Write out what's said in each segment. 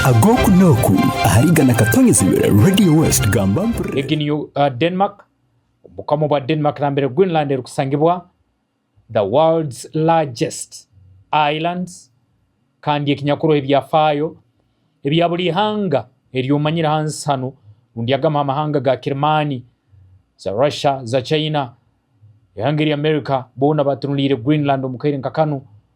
ag'oku n'oku ahari igana katonyezibwe Radio West gamba mpurire. Egi ni Denmark, Obukama bwa Denmark nambere Greenland erukusangibwa, the world's largest island, kandi ekinyakuroho ebyafayo ebya buli ihanga eryomanyire hansi hanu rundi agamaha amahanga ga Kirimani, za Russia, za China, ihanga erya America bona batunulire Greenland omu kaire nka kanu.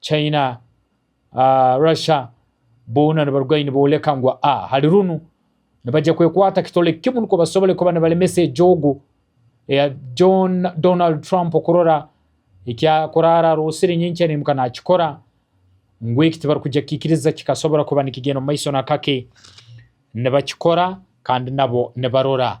China, Russia boona nibaruga ahi nibooleka ngu a hali runu nibagya kwekwata kitole kimu nikwo basobole kuba nibalemesa ejoogo eya John Donald Trump kurora eki akuraara aroosire nyenkya naimuka naakikora ngu eki tibarikugya kukiikiriza kikasobora kuba nikigyenda omu maiso na kake. Nibakikora kandi nabo nibarora.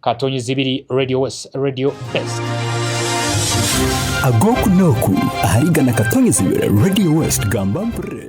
Katonyi Zibiri Radio West Radio Best. Ag'oku n'oku ahari igana Katonyi Zibiri Radio West Gamba mpurire.